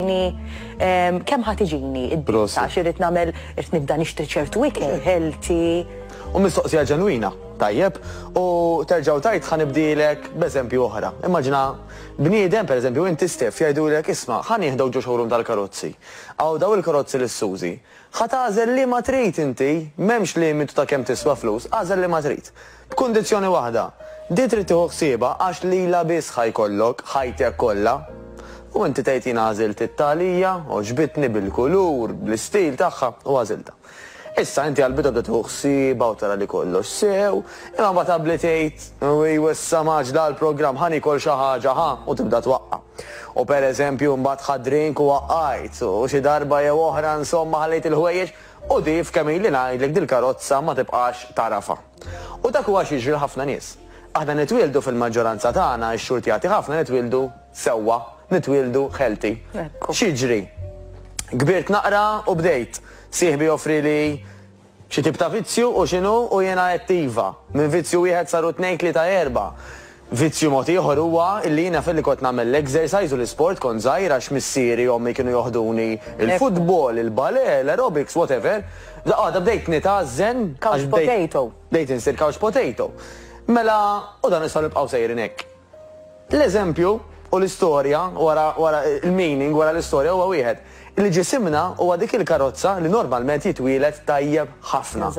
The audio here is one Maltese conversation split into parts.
Ehm, Kem ħat iġini id-disa, xirrit namel, irrit nibda nixtri ċertu ikel, healthy. U mistoqsija ġenwina, tajjeb, u terġaw tajt ħan ibdilek b'eżempju oħra. Immaġina, bniedem, per eżempju, inti stef jajdu l isma, ħan jihdaw ġo xogħolum tal-karozzi. Għaw daw il-karozzi l-Suzi. ħat għazel li ma trid inti, memx limitu ta' kem tiswa flus, għazel li ma trid. B'kundizzjoni waħda, din trid tieħu ħsiebha għax lilha biss ħa jkollok ħajtek kollha. U inti tgħid jien għażilt it-tagħlija, għoġbitni bil-kulur, bl-istil tagħha u għażiltha. Issa inti għall-bidu bda tieħu ħsiebha u tara li kollox sew, imma mbagħad abli tgħid, ewwi wissa mgħaġġla għall-programm ħa niekol xi ħaġa ħa u tibda twaqqa'. U pereżempju mbagħad ħadt drink u waqqajt, u xi darba jew oħra insomma ħallejt il-ħwejjeġ U Dave kemm ili ngħidlek dil-karozza ma tibqax tagħrafha. U dak huwa x'jiġri l-ħafna nies. Aħna nitwieldu fil-maġġoranza tagħna, ix-xurtjati ħafna nitwieldu sewwa, nitwieldu healthy. X'jiġri? Kbirt naqra u bdejt. Sieħbi joffrili xi tip ta' vizzju u x'inhu u jiena għedt iva. Minn vizzju wieħed saru tnejn tlieta erba'. Vizzju mod ieħor huwa illi jiena filli kont nagħmel l-exercise u l-isport kont żgħir għax missieri, ommi kienu joħduni il-futbol, il-balè, l-aerobics, whatever, għada bdejt nitgħażżen għax bdejt bdejt insir couch potato. Mela u dan nistgħu nibqgħu sejrin hekk. L-eżempju u l-istorja wara wara l-meaning wara l-istorja huwa wieħed, illi ġisimna huwa dik il-karozza li normalment jitwieled tajjeb ħafna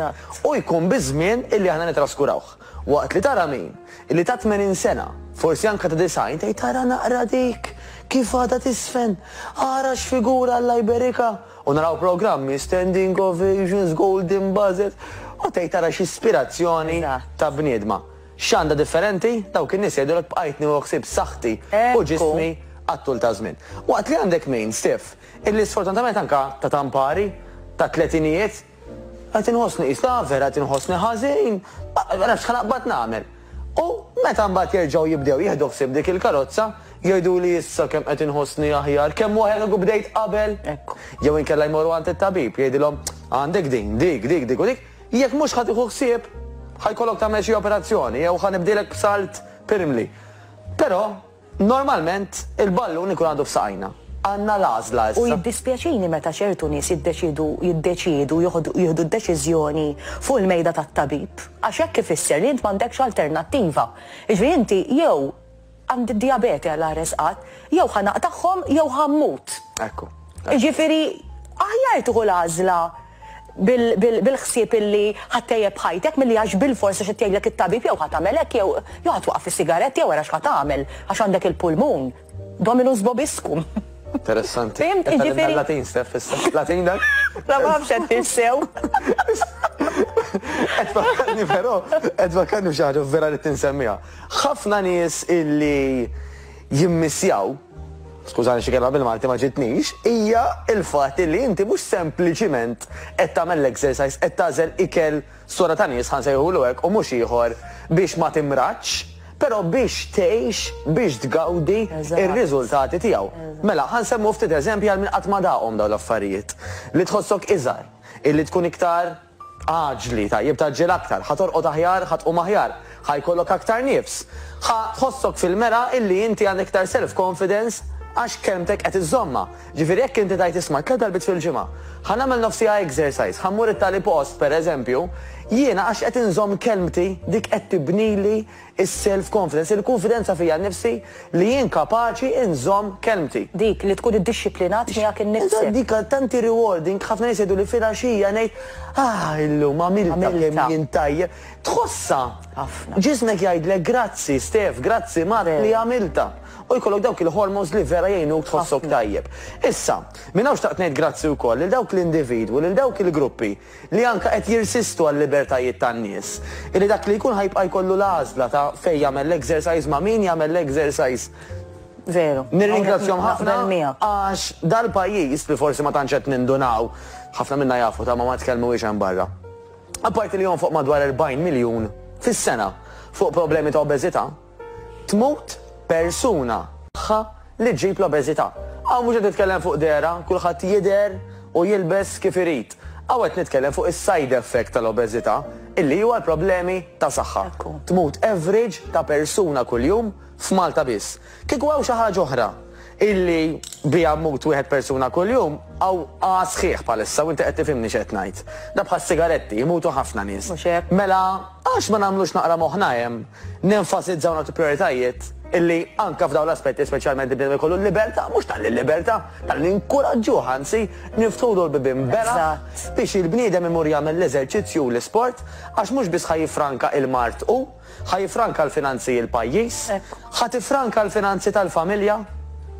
u jkun biż-żmien illi aħna nitraskurawh. Waqt li tara min, illi ta' tmenin sena, forsi anke ta' disgħin, tgħid ara naqra dik, kif għadha tiżfen, ara x'figura Alla jberikha, u naraw programmi, standing ovations, golden buzzers, u tgħid ara x'ispirazzjoni ta' bniedma. X'għandha differenti? Dawk in-nies jgħidulek bqajtni u ħsibt saħħti u ġismi għat-tul ta' żmien. Waqt li għandek min, Steph, illi sfortunatament anke ta' tampari, tat-tletinijiet, Qed inħossni qis l-għaver, qed inħossni ħażin, ma nafx x'ħanaqbad nagħmel. U meta mbagħad jerġgħu jibdew jieħdu ħsieb dik il-karozza, jgħiduli issa kemm qed inħossni aħjar, kemm aħjar kieku bdejt qabel. Jew inkella jmorru għand it-tabib, jgħidilhom għandek din, dik, dik, dik u dik, jekk mhux ħa tieħu ħsieb, ħa jkollok tagħmel xi operazzjoni jew ħa nibdielek b'salt pirmli. Però, Normalment, il-ballun ikun għadu f'saqajna. Għandna l-għażla issa. U jiddispjaċini meta ċertu nies jiddeċiedu jiddeċiedu joħdu jieħdu d-deċiżjoni fuq il-mejda tat-tabib, għax hekk ifisser li int m'għandekx alternattiva. Jiġifieri inti jew għandi d-dijabete Alla jressqak, jew ħa naqtagħhom jew ħa mmut. Ekku. Jiġifieri aħjar tieħu l-għażla. bil-ħsieb illi ħa ttejjeb ħajtek milli għax bilfors għax qed jgħidlek it-tabib jew ħa tagħmel hekk jew jew ħa twaqqaf is-sigaretti jew ara x'ħa tagħmel għax għandek il-pulmun. Dominus vobiscum. Interessanti. Fim, ġifieri. Latin, Steph, issa. Latin dak? La ma nafx qed tinsew. Qed fakkarni però, qed fakkarni f'xi ħaġa vera li tinsemmiha. Ħafna nies illi jimmissjaw, skużani xi kelma bil-Malti ma ġietnix, hija l-fatt li inti mhux sempliċiment qed tagħmel l-exercise, qed tagħżel ikel sora ta' nies, ħa nsejħulu hekk, u mhux ieħor, biex ma timradx, però biex tgħix, biex tgawdi r-riżultati tiegħu. Mela, ħa nsemmu ftit eżempji għal min qatt ma daqhom dawn l-affarijiet. Li tħossok iżgħar, illi tkun iktar Aġli, tajjeb tgħaġġel aktar, ħa torqod aħjar, ħa tqum aħjar, ħa jkollok aktar nifs, ħa tħossok fil-mera illi inti għandek iktar self confidence għax kelmtek qed iżżommha. Ġifieri jekk inti tgħid isma' tliet darbiet fil-ġimgħa, ħa nagħmel nofs siegħa exercise, ħa mmur it-tali post, pereżempju, jiena għax qed inżomm kelmti dik qed tibnili Is-self confidence, il-kunfidenza fija nnifsi li jien kapaċi nżomm kelmti. Dik li tkun iddixxiplinat miegħek innifsek. Eżatt, dik għal tanti rewarding, ħafna nies jgħiduli filgħaxija ngħid, Ah, illum għamiltha kemm jien tajjeb. Tħossha! Ħafna. Ġismek jgħidlek grazzi Stef, grazzi Mark li għamiltha. U jkollok dawk il-hormones li vera jgħinuk tħossok tajjeb. Issa, minn hawn xtaqt ngħid grazzi wkoll lil dawk l-individwi, lil dawk il-gruppi, li anke qed jirsistu għal-libertajiet tan-nies, illi dak li jkun ħa jibqa' jkollu l-għażla ta' fejn jagħmel l-exercise, ma' min jagħmel l-exercise. Veru. Nirringrazzjahom ħafna għax dal-pajjiż, li forsi ma tantx qed nindunaw, ħafna minna jafu ta' ma ma tkellmuhiex hemm barra, apparti li jonfoq madwar 40 miljun fis-sena fuq problemi ta' obeżità, Tmut persuna. Tagħha li ġġib l-obeżità. Hawn mhux qed nitkellem fuq dehra, kulħadd jidher u jilbes kif irid. Hawn qed nitkellem fuq is-side effect tal-obeżità, illi huwa l-problemi ta' saħħa. Tmut average ta' persuna kuljum f'Malta biss. Kieku hawn xi ħaġa oħra illi biha mmut wieħed persuna kuljum, hawn qagħad sħiħ bħalissa u inti qed tifhimni x'qed ngħid. Dha bħas-sigaretti, imutu ħafna nies. Mhux hekk. Mela għax ma nagħmlux naqra moħħna hemm? Nenfasizza u nagħtu prijoritajiet illi anke f'dawn l-aspetti speċjalment il-bniedem ikollu l-libertà, mhux talli l-libertà, talli ninkuraġġuh anzi, niftħulu l-bibien bela' biex il-bniedem imur jagħmel l-eżerċizzju u l-isport għax mhux biss ħa jiffranka il-mard hu, ħa jiffranka l-finanzi l-pajjiż, ħa tiffranka l-finanzi tal-familja,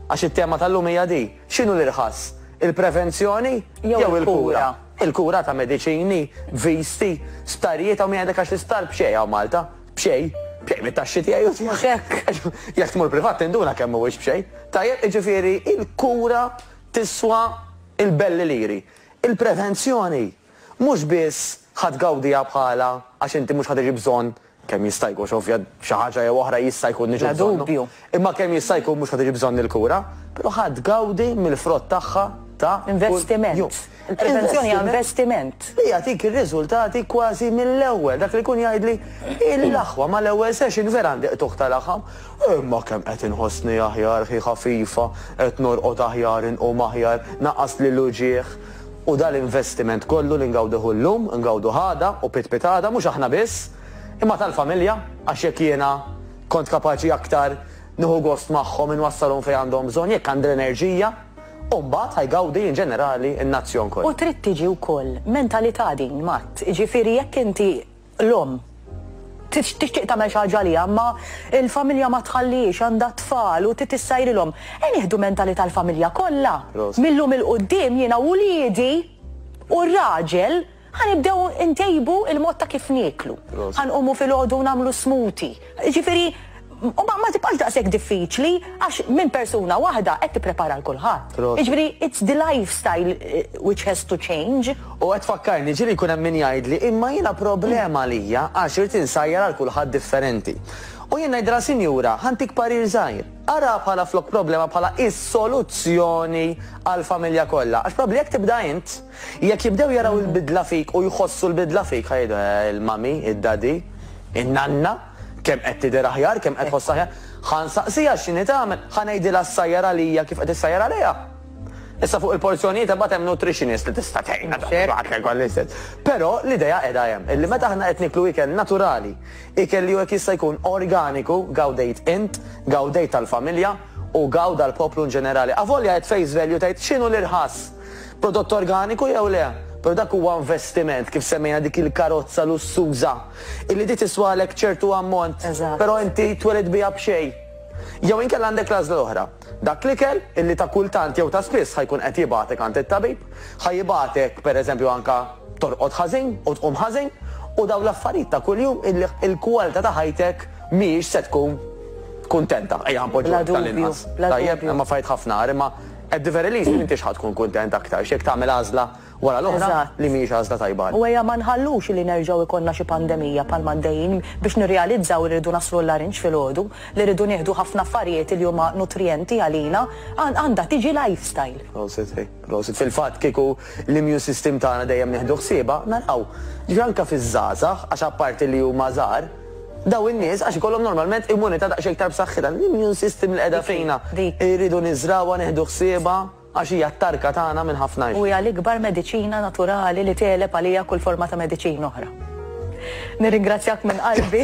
għax it-tema tal-lum hija di. X'inhu l-irħas? Il-prevenzjoni jew il-kura? Il-kura ta' mediċini, viżti, sptarijiet, hawn min jgħidlek għax l-isptar b'xejn hawn Malta. B'xejn? B'xejn mit-taxxi tiegħi u tiegħek. Jekk tmur privat tinduna kemm mhuwiex b'xejn. Tajjeb, jiġifieri l-kura tiswa l-belli liri. Il-prevenzjoni mhux biss ħa tgawdiha bħalha għax inti mhux ħa tiġi bżonn Kemm jista' jkun, xi ovvja, xi ħaġa jew oħra jista' jkun niġu bżonnu. Bla dubju. Imma kemm jista' jkun mhux ħa tiġi bżonn il-kura, però ħa tgawdi mill-frott tagħha ta' kuljum. Investiment. Il-prevenzjoni hija investiment. Li jagħtik ir-riżultati kważi mill-ewwel. Dak li jkun jgħidli, Hi l-aħwa, ma l-ewwel session vera għandi qtugħ ta' laħam. Imma kemm qed inħossni aħjar, hi ħafifa, qed norqod aħjar, inqum aħjar, naqqasli l-uġigħ. U dan l-investiment kollu li ngawduh illum, ngawduh għada u pitpit għada, mhux aħna biss, imma tal-familja, għax jekk jiena kont kapaċi aktar nieħu gost magħhom, inwassalhom fejn għandhom bżonn, jekk għandi l-enerġija, u mbagħad ħa jgawdi in ġenerali n-nazzjon kollu. U trid tiġi wkoll mentalità din, Matt, jiġifieri jekk inti, L-omm tixtieq tagħmel xi ħaġa għaliha imma l-familja ma tħallihiex, għandha t-tfal u trid issajrilhom. Ejja nieħdu mentalità l-familja kollha. Mil-lum 'il quddiem jiena u wliedi u r-raġel ħa nibdew intejbu l-mod ta' kif nieklu. Ħa nqumu filgħodu u nagħmlu smoothie. Jiġifieri, ma ma tibqax daqshekk diffiċli għax minn persuna waħda qed tipprepara għal kulħadd. Proset. Jiġifieri, it's the lifestyle which has to change. U qed tfakkarni, ġieli jkun hemm min jgħidli, imma jiena problema għalija għax irid insajjar għal kulħadd differenti. U jien ngħidilha, sinjura, ħa ntik parir żgħir, araha bħala flok problema bħala is-soluzzjoni għall-familja kollha, għax probabbli jekk tibda int, Jekk jibdew jaraw il-bidla fik u jħossu l-bidla fik, ħa jgħidu, eh, il-mummy, id-daddy, in-nanna, kemm qed tidher aħjar, kemm qed tħossha aħjar. Ħa nsaqsiha x'inhi tagħmel, ħa ngħidilha ssajjar għalija kif qed issajjar għaliha. Issa fuq il-porzjonijiet imbagħad hemm nutritionist li tista' tgħinna tagħti waħda ikel l-istess. Però l-idea qiegħda hemm, illi meta aħna qed nieklu ikel naturali, ikel li hu jekk jista' jkun organiku, gawdejt int, gawdejt tal-familja u gawda l-poplu inġenerali. Avolja qed face value tgħid x'inhu l-irħas. Prodott organiku jew le, però dak huwa investiment, kif semmejna dik il-karozza lussuża illi di tiswalek ċertu ammont, però inti twelid biha b'xejn. Jew inkella għandek l-għażla l-oħra, dak l-ikel illi ta' kultant jew ta' spiss ħa jkun qed jibgħatek għand it-tabib, ħa jibgħatek pereżempju anke torqod ħażin u tqum ħażin u dawn l-affarijiet ta' kuljum illi il-kwalità ta' ħajtek mhijiex se tkun kuntenta, ejja ħa npoġġuha hekk tal-inqas. Tajjeb, hemm affarijiet ħafna agħar imma. At the very least m'intix ħa tkun kuntent aktarx jekk tagħmel għażla wara l-oħra li mhijiex għażla tajba għalik. U ejja ma nħallux li nerġgħu jkollna xi pandemija bħalma għaddejjin biex nirrealizzaw li rridu naslu l-Larinġ filgħodu, li rridu nieħdu ħafna affarijiet li huma nutrijenti għalina. Għandha tiġi lifestyle. Prosit, ej, prosit. Fil-fatt kieku l-immune system tagħna dejjem nieħdu ħsiebha, naraw. Ġifieri anke fiż-żgħażagħ, għax apparti li huma żgħar, Dawn in-nies għax ikollhom normalment immunità daqsxejn iktar b'saħħitha. L-immune system li qiegħda fina irridu niżrgħuha, nieħdu ħsiebha għax hija t-tarka tagħna minn ħafna. U hija l-ikbar mediċina naturali li tegħleb għalija kull forma ta' mediċina oħra. Nirringrazzjak minn qalbi.